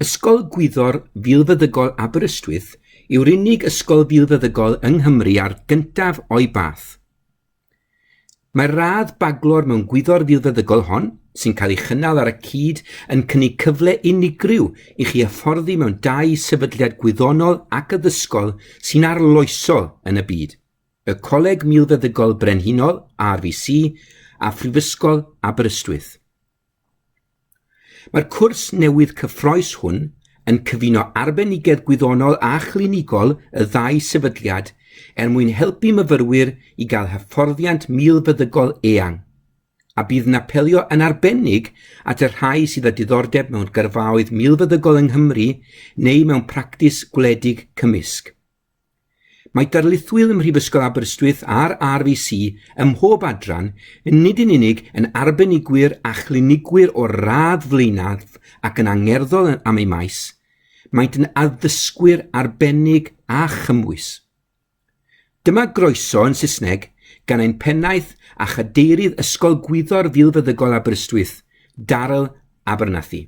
Ysgol Gwyddor Filfeddygol Aberystwyth yw'r unig ysgol filfeddygol yng Nghymru a'r gyntaf o'i bath. Mae'r radd baglor mewn gwyddor filfeddygol hon, sy'n cael ei chynnal ar y cyd, yn cynnig cyfle unigryw i chi hyfforddi mewn dau sefydliad gwyddonol ac addysgol sy'n arloesol yn y byd, y Coleg Milfeddygol Brenhinol, RVC, a Phrifysgol Aberystwyth. Mae'r cwrs newydd cyffroes hwn yn cyfuno arbenigedd gwyddonol a chlinigol y ddau sefydliad er mwyn helpu myfyrwyr i gael hyfforddiant milfeddygol eang, a bydd yn apelio yn arbennig at y rhai sydd â diddordeb mewn gyrfaoedd milfeddygol yng Nghymru neu mewn practis gwledig cymysg. Mae darlithwyr ym Mhrifysgol Aberystwyth a'r RVC ym mhob adran yn nid yn unig yn arbenigwyr a chlinigwyr o'r radd flaenaf ac yn angerddol am eu maes, maent yn addysgwyr arbennig a chymwys. Dyma groeso yn Saesneg gan ein pennaeth a chadeirydd Ysgol Gwyddor Filfeddygol Aberystwyth, Daryl Abernathy.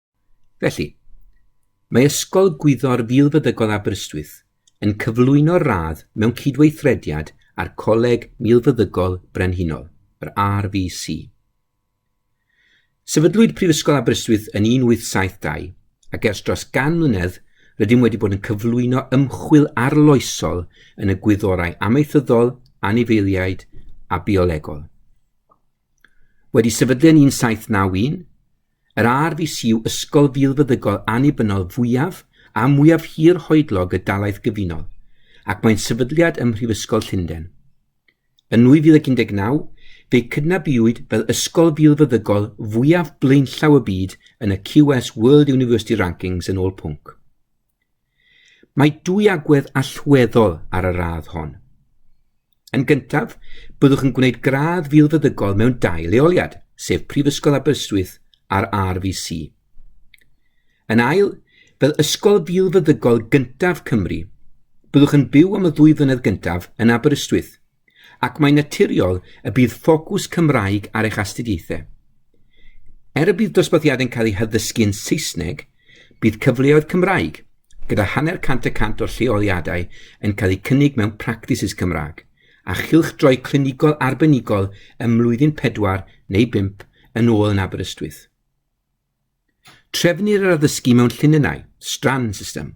Felly, mae Ysgol Gwyddor Filfeddygol Aberystwyth yn cyflwyno'r radd mewn cydweithrediad â'r Coleg Milfeddygol Brenhinol, yr RVC. Sefydlwyd Prifysgol Aberystwyth yn 1872 ac ers dros gan mlynedd rydym wedi bod yn cyflwyno ymchwil arloesol yn y gwyddorau amaethyddol, anifeiliaid a biolegol. Wedi sefydlu yn 1791, Yr RVC yw ysgol filfeddygol annibynnol fwyaf a mwyaf hir hoedlog y dalaith gyfunol, ac mae'n sefydliad ym Mhrifysgol Llundain. Yn 2019, fe'i cydnabuwyd fel ysgol filfeddygol fwyaf blaenllaw y byd yn y QS World University Rankings yn ôl pwnc. Mae dwy agwedd allweddol ar y radd hon. Yn gyntaf, byddwch yn gwneud gradd filfeddygol mewn dau leoliad, sef Prifysgol Aberystwyth a'r RVC. Yn ail, fel ysgol filfeddygol gyntaf Cymru, byddwch yn byw am y ddwy flynedd gyntaf yn Aberystwyth, ac mae'n naturiol y bydd ffocws Cymraeg ar eich astudiaethau. Er y bydd dosbarthiadau yn cael eu haddysgu yn Saesneg, bydd cyfleoedd Cymraeg, gyda hanner cant y cant o'r lleoliadau yn cael eu cynnig mewn practices Cymraeg, a chylchdroi clinigol arbenigol ym mlwyddyn pedwar neu bump yn ôl yn Aberystwyth. Trefnir yr addysgu mewn llinynnau, strand system.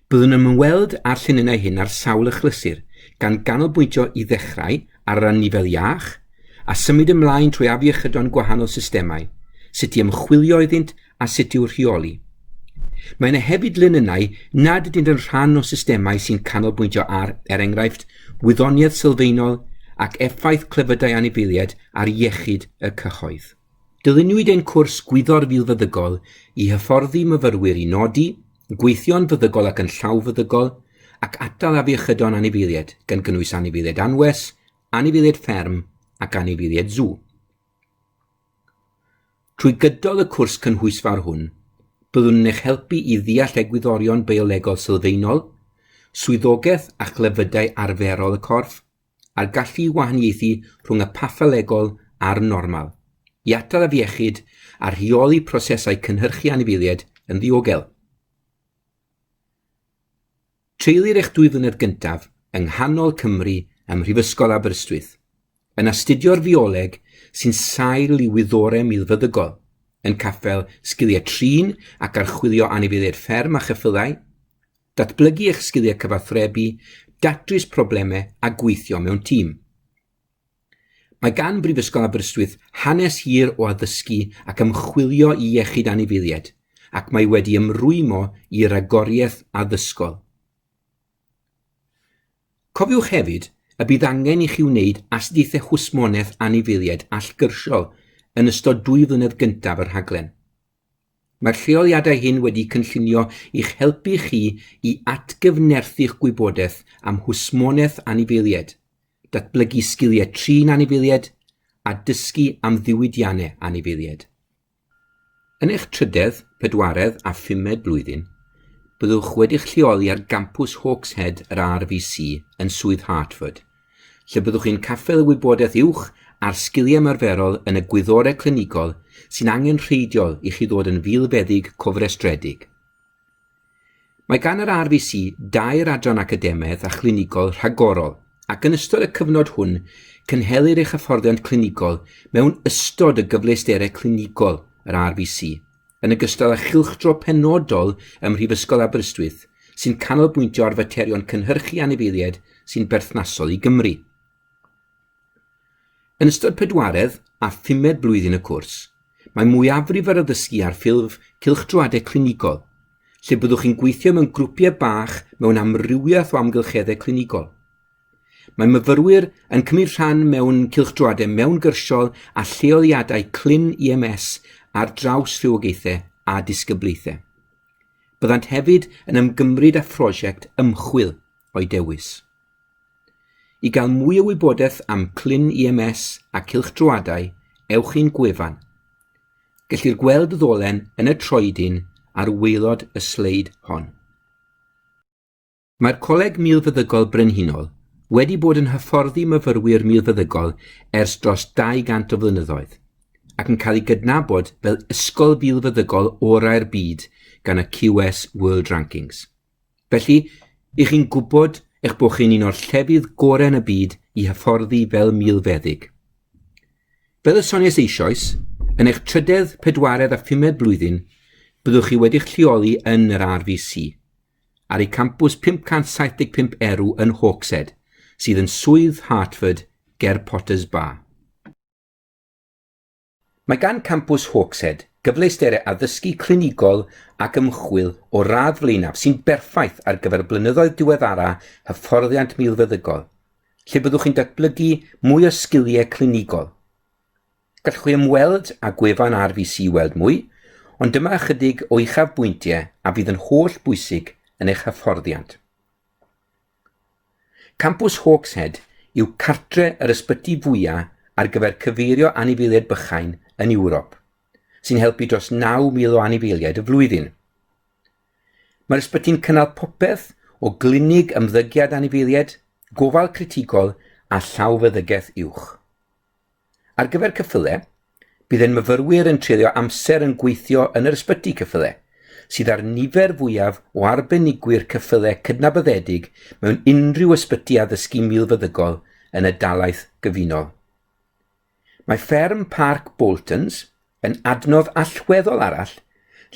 Byddwn yn ymweld â'r llinynnau hyn ar sawl achlysur, gan ganolbwyntio i ddechrau ar yr anifel iach, a symud ymlaen trwy afiechydon gwahanol systemau, sut i ymchwilio iddynt a sut i'w rheoli. Mae yna hefyd linynnau nad ydynt yn rhan o systemau sy'n canolbwyntio ar, er enghraifft, wyddoniaeth sylfaenol ac effaith clefydau anifeiliaid ar iechyd y cyhoedd. Dyluniwyd ein cwrs Gwyddor Filfeddygol i hyfforddi myfyrwyr i nodi, gweithio'n feddygol ac yn llawfeddygol, ac atal afiechydon anifeiliaid, gan gynnwys anifeiliaid anwes, anifeiliaid fferm ac anifeiliaid sw. Trwy gydol y cwrs cynhwysfawr hwn, byddwn yn eich helpu i ddeall egwyddorion biolegol sylfaenol, swyddogaeth a chlefydau arferol y corff, a'r gallu i wahaniaethu rhwng y patholegol a'r normal, i atal afiechyd a rheoli prosesau cynhyrchu anifeiliaid yn ddiogel. Treulir eich dwy flynedd gyntaf yng nghanol Cymru ym Mhrifysgol Aberystwyth, yn astudio'r fioleg sy'n sail i wyddorau milfeddygol, yn caffel sgiliau trin ac archwilio anifeiliaid fferm a cheffylau, Datblygu eich sgiliau cyfathrebu, datrys problemau a gweithio mewn tîm. Mae gan Brifysgol Aberystwyth hanes hir o addysgu ac ymchwilio i iechyd anifeiliaid ac mae wedi ymrwymo i ragoriaeth addysgol. Cofiwch hefyd y bydd angen i chi wneud astudiaethau hwsmonaeth anifeiliaid allgyrsiol yn ystod dwy flynedd gyntaf y rhaglen. Mae'r lleoliadau hyn wedi cynllunio i'ch helpu chi i atgyfnerthu'ch gwybodaeth am hwsmonaeth anifeiliaid, datblygu sgiliau trin anifeiliaid, a dysgu am ddiwydiannau anifeiliaid. Yn eich trydedd, pedwaredd a phumed blwyddyn, byddwch wedi'ch lleoli ar gampws Hawkshead yr RVC yn Swydd Hertford, lle byddwch chi'n caffael y wybodaeth uwch a'r sgiliau ymarferol yn y gwyddorau clinigol sy'n angenrheidiol i chi ddod yn filfeddyg cofrestredig. Mae gan yr RVC dair adran academaidd a chlinigol rhagorol, ac yn ystod y cyfnod hwn, cynhelir eich hyfforddiant clinigol mewn ystod y gyfleusterau clinigol yr RVC, yn ogystal â chylchdro penodol ym Mhrifysgol Aberystwyth sy'n canolbwyntio ar faterion cynhyrchu anifeiliaid sy'n berthnasol i Gymru. Yn ystod pedwaredd a phumed blwyddyn y cwrs, mae mwyafrif yr addysgu ar ffurf cylchdroadau clinigol, lle byddwch chi'n gweithio mewn grwpiau bach mewn amrywiaeth o amgylcheddau clinigol. Mae myfyrwyr yn cymryd rhan mewn cylchdroadau mewngyrsiol a lleoliadau clyn EMS ar draws rhywogaethau a disgyblaethau. Byddant hefyd yn ymgymryd â phrosiect ymchwil o'u dewis. I gael mwy o wybodaeth am clyn EMS a cylchdroadau, ewch i'n gwefan. Gellir gweld y ddolen yn y troedyn ar waelod y sleid hon. Mae'r Coleg Milfeddygol Brenhinol wedi bod yn hyfforddi myfyrwyr milfeddygol ers dros 200 o flynyddoedd, ac yn cael ei gydnabod fel ysgol filfeddygol orau'r byd gan y QS World Rankings. Felly, i chi'n gwybod eich bod chi'n un o'r llefydd gorau yn y byd i hyfforddi fel milfeddyg. Fel y sonies eisoes, yn eich trydedd, pedwaredd a phumed blwyddyn, byddwch chi wedi'ch lleoli yn yr RVC, ar ei campws 575 erw yn Hawkshead, sydd yn Swydd Hertford ger Potters Bar. Mae gan campws Hawkshead gyfleusterau addysgu clinigol ac ymchwil o radd flaenaf sy'n berffaith ar gyfer y blynyddoedd diweddara hyfforddiant milfeddygol, lle byddwch chi'n datblygu mwy o sgiliau clinigol. Gallwch chi ymweld â gwefan RVC i weld mwy, ond dyma ychydig o uchafbwyntiau a fydd yn holl bwysig yn eich hyfforddiant. Campws Hawkshead yw cartre yr ysbyty fwyaf ar gyfer cyfeirio anifeiliaid bychain yn Ewrop, sy'n helpu dros 9,000 o anifeiliaid y flwyddyn. Mae'r ysbyty'n cynnal popeth o glinig ymddygiad anifeiliaid, gofal critigol a llawfeddygaeth uwch. Ar gyfer ceffyle, bydd ein myfyrwyr yn treulio amser yn gweithio yn yr ysbyty ceffyle, sydd â'r nifer fwyaf o arbenigwyr ceffyle cydnabyddedig mewn unrhyw ysbyty addysgu milfeddygol yn y dalaith gyfunol. Mae fferm Parc Boltons yn adnodd allweddol arall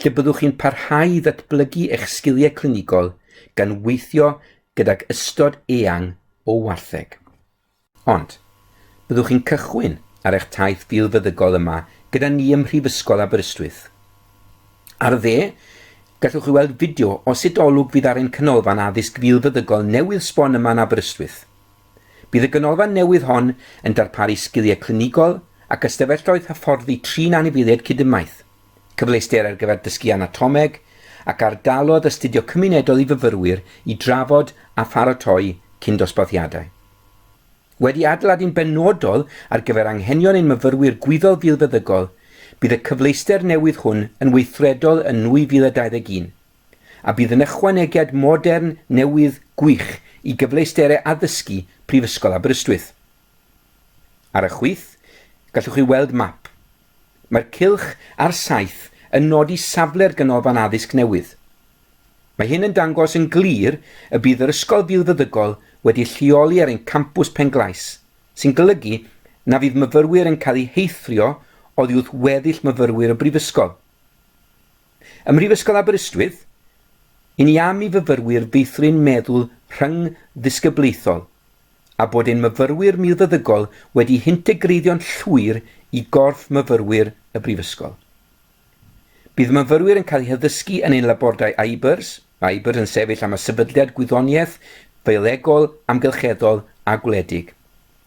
lle byddwch chi'n parhau i ddatblygu eich sgiliau clinigol gan weithio gydag ystod eang o wartheg. Ond, byddwch chi'n cychwyn ar eich taith filfeddygol yma gyda ni ym Mhrifysgol Aberystwyth. Ar y dde, gallwch chi weld fideo o sut olwg fydd ar ein canolfan addysg filfeddygol newydd sbon yma yn Aberystwyth. Bydd y ganolfan newydd hon yn darparu sgiliau clinigol ac ystafelloedd hyfforddi trin anifeiliaid cyd-ymaith. cyfleuster ar gyfer dysgu anatomeg, ac ardalodd astudio cymunedol i fyfyrwyr i drafod a pharatoi cyn-dosbarthiadau. Wedi adeiladu'n benodol ar gyfer anghenion ein myfyrwyr gwyddol filfeddygol, bydd y cyfleuster newydd hwn yn weithredol yn 2021, a bydd yn ychwanegiad modern newydd gwych i gyfleusterau addysgu Prifysgol Aberystwyth. Ar y chwith, gallwch chi weld map Mae'r cylch ar saith yn nodi safle'r Ganolfan Addysg newydd. Mae hyn yn dangos yn glir y bydd yr ysgol filfeddygol wedi lleoli ar ein campws Penglais, sy'n golygu na fydd myfyrwyr yn cael eu heithrio oddi wrth weddill myfyrwyr y brifysgol. Ym Mhrifysgol Aberystwyth, i ni am i fyfyrwyr feithrin meddwl rhyngddisgyblaethol, a bod ein myfyrwyr milfeddygol wedi hintegreiddio'n llwyr i gorff myfyrwyr y Brifysgol. Bydd myfyrwyr yn cael eu haddysgu yn ein labordai IBERS, mae IBERS yn sefyll am y Sefydliad Gwyddoniaeth Fiolegol, Amgylcheddol a Gwledig.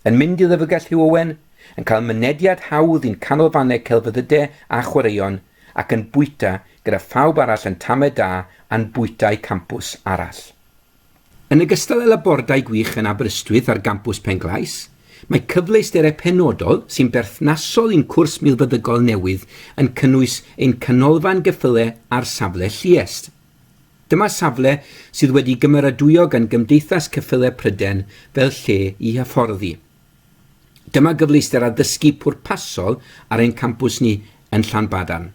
Yn mynd i Lyfrgell Hugh Owen, yn cael mynediad hawdd i'n canolfannau celfyddydau a chwaraeon ac yn bwyta gyda phawb arall yn tamed da a'n bwytai campws arall. Yn ogystal â labordai gwych yn Aberystwyth ar gampws Penglais, mae cyfleusterau penodol sy'n berthnasol i'n cwrs milfeddygol newydd yn cynnwys ein canolfan geffylau ar safle Lluest. Dyma safle sydd wedi gymeradwyo gan Gymdeithas Ceffylau Pryden fel lle i hyfforddi. Dyma gyfleuster addysgu pwrpasol ar ein campws ni yn Llanbadarn.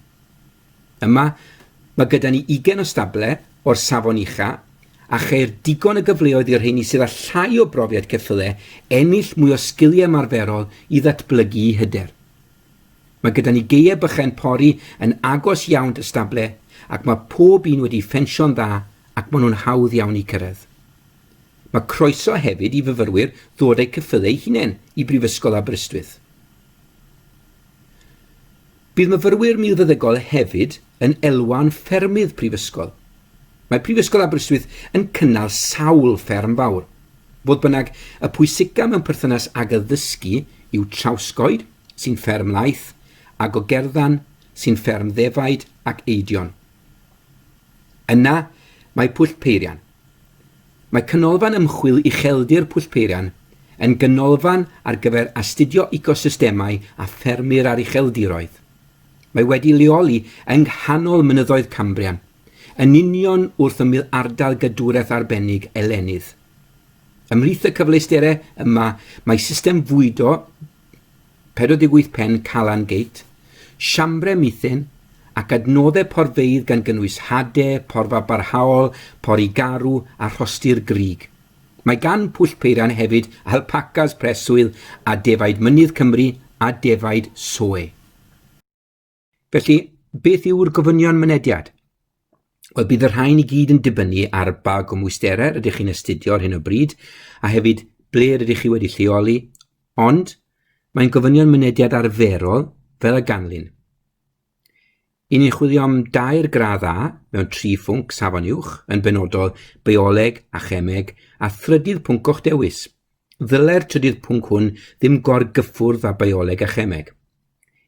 Yma, mae gyda ni ugain o stable o'r safon ucha, a cheir digon o gyfleoedd i'r rheini sydd â llai o brofiad ceffylau ennill mwy o sgiliau ymarferol i ddatblygu eu hyder. Mae gyda ni gaeau bychain pori yn agos iawn dy stable ac mae pob un wedi ffensio'n dda ac maen nhw'n hawdd iawn i cyrraedd. Mae croeso hefyd i fyfyrwyr ddod a'u ceffylau eu hunain i Brifysgol Aberystwyth. Bydd myfyrwyr milfeddygol hefyd yn elwa'n ffermydd prifysgol. Mae Prifysgol Aberystwyth yn cynnal sawl fferm fawr. Fodd bynnag, y pwysica mewn perthynas ag addysgu yw Trawsgoed, sy'n fferm laeth, a Gogerddan, sy'n fferm ddefaid ac eidion. Yna, mae Pwllpeirian. Mae Canolfan Ymchwil Ucheldir Pwllpeirian yn ganolfan ar gyfer astudio ecosystemau a ffermyr a'r ucheldiroedd. Mae wedi leoli yng nghanol mynyddoedd Cambrian, yn union wrth ymyl ardal gadwraeth arbennig Elenydd. Ymhlith y cyfleusterau yma mae system fwydo 48 pen Calan Gate, siambrau mithên, ac adnoddau porfeydd gan gynnwys hade, porfa barhaol, pori garw a rhostir grug. Mae gan Pwll Peiran hefyd alpacas preswyl a defaid mynydd Cymru a defaid soe. Felly, beth yw'r gofynion mynediad? Wel, bydd y rhain i gyd yn dibynnu ar ba gwmwysterau rydych chi'n astudio ar hyn o bryd, a hefyd ble rydych chi wedi lleoli, ond mae'n gofynion mynediad arferol fel y ganlyn. Yn ni'n chwilio am dair gradd A mewn tri phwnc safon uwch, yn benodol bioleg a chemeg a thrydydd pwnc o'ch dewis. Ddylai'r trydydd pwnc hwn ddim gorgyffwrdd â bioleg a chemeg.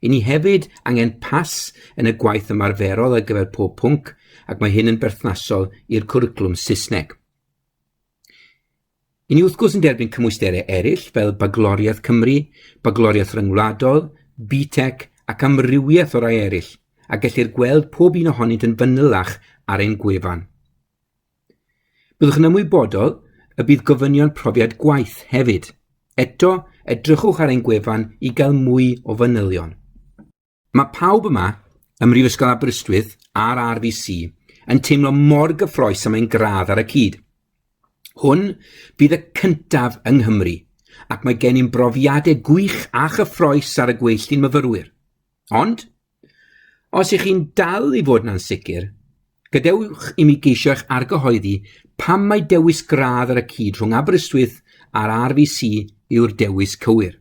I ni hefyd angen pas yn y gwaith ymarferol ar gyfer pob pwnc ac mae hyn yn berthnasol i'r cwricwlwm Saesneg. I ni wrth gwrs yn derbyn cymwysterau eraill fel bagloriaeth Cymru, bagloriaeth ryngwladol, BTEC ac amrywiaeth o rai eraill, a gellir gweld pob un ohonynt yn fanylach ar ein gwefan. Byddwch yn ymwybodol y bydd gofynion profiad gwaith hefyd. Eto, edrychwch ar ein gwefan i gael mwy o fanylion. Mae pawb yma ym Mhrifysgol Aberystwyth a'r RVC yn teimlo mor gyffroes am ein gradd ar y cyd. Hwn bydd y cyntaf yng Nghymru, ac mae gen i'n brofiadau gwych a chyffroes ar y gweilltu'n myfyrwyr. Ond, Os ych chi'n dal i fod yn ansicr, gadewch i mi geisio eich argyhoeddi pam mae dewis gradd ar y cyd rhwng Aberystwyth a'r RVC yw'r dewis cywir.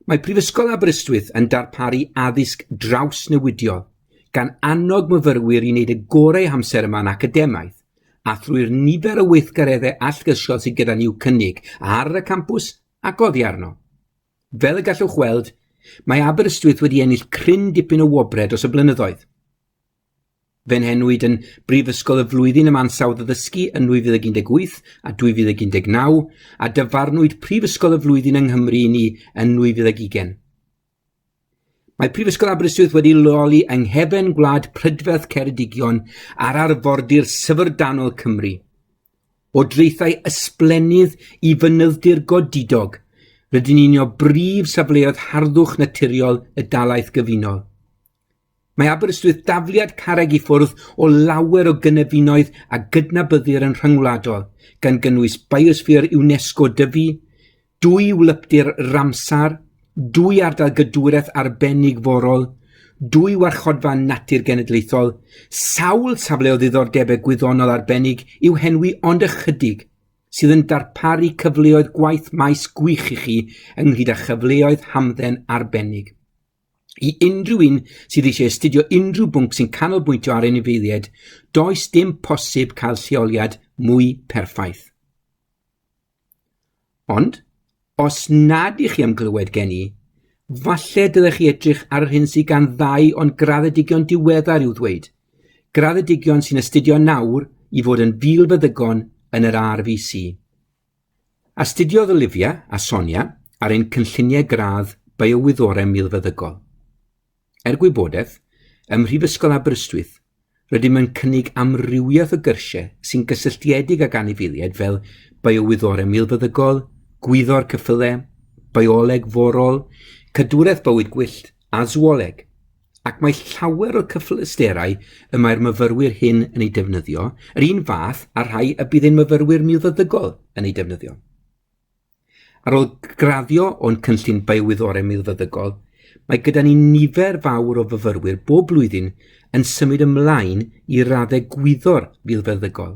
Mae Prifysgol Aberystwyth yn darparu addysg drawsnewidiol, gan annog myfyrwyr i wneud y gorau amser yma'n academaidd, a thrwy'r nifer o weithgareddau allgyrsiol sydd gyda ni i'w cynnig ar y campws ac oddi arno. Fel y gallwch weld, mae Aberystwyth wedi ennill cryn dipyn o wobrau dros y blynyddoedd. Fe'n henwyd yn Brifysgol y Flwyddyn am Ansawdd Addysgu yn 2018 a 2019 a dyfarnwyd Prifysgol y Flwyddyn yng Nghymru i ni yn 2020. Mae Prifysgol Aberystwyth wedi leoli yng nghefn gwlad prydferth Ceredigion ar arfordir syfrdanol Cymru. O draethau ysblennydd i fynyddir godidog, rydyn ni'n o brif safleoedd harddwch naturiol y dalaeth gyfunol. Mae Aberystwyth dafliad carreg i ffwrdd o lawer o gynefinoedd a gydnabyddir yn rhyngwladol, gan gynnwys Biosphere UNESCO Dyfi, dwy wlypdir Ramsar, dwy ardal gydwraeth arbennig forol, dwy warchodfa natur genedlaethol, sawl safle o ddiddordebau gwyddonol arbennig i'w henwi ond ychydig, sydd yn darparu cyfleoedd gwaith maes gwych i chi ynghyd â chyfleoedd hamdden arbennig. I unrhyw un sydd eisiau astudio unrhyw bwnc sy'n canolbwyntio ar anifeiliaid, does dim posib cael lleoliad mwy perffaith. Ond, os nad ych chi am glywed gen i, falle dylech chi edrych ar yr hyn sydd gan ddau o'n graddedigion diweddar i'w ddweud. Graddedigion sy'n astudio nawr i fod yn fil feddygon yn yr RVC. Astudiodd Olivia a Sonia ar ein cynlluniau gradd Biowyddorau Milfeddygol. Er gwybodaeth, ym Mhrifysgol Aberystwyth, rydym yn cynnig amrywiaeth o gyrsiau sy'n gysylltiedig ag anifeiliaid fel Biowyddorau Milfeddygol, Gwyddor Ceffylau, Bioleg Forol, Cadwraeth Bywyd Gwyllt a Sŵoleg. ac mae llawer o'r cyfleusterau y mae'r myfyrwyr hyn yn ei defnyddio yr un fath â'r rhai y bydd ein myfyrwyr milfeddygol yn eu defnyddio. Ar ôl graddio o'n cynllun biowyddorau milfeddygol, mae gyda ni nifer fawr o fyfyrwyr bob blwyddyn yn symud ymlaen i raddau gwyddor filfeddygol.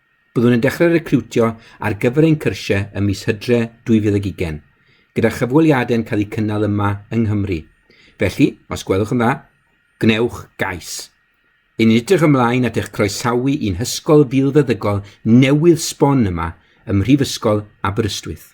Byddwn yn dechrau recriwtio ar gyfer ein cyrsiau ym mis Hydre 2020, gyda chyfweliadau'n cael eu cynnal yma yng Nghymru. Felly, os gwelwch yn dda, gwnewch gais. Yn ni'n edrych ymlaen at eich croesawu i'n hysgol filfeddygol newydd sbon yma ym Mhrifysgol Aberystwyth.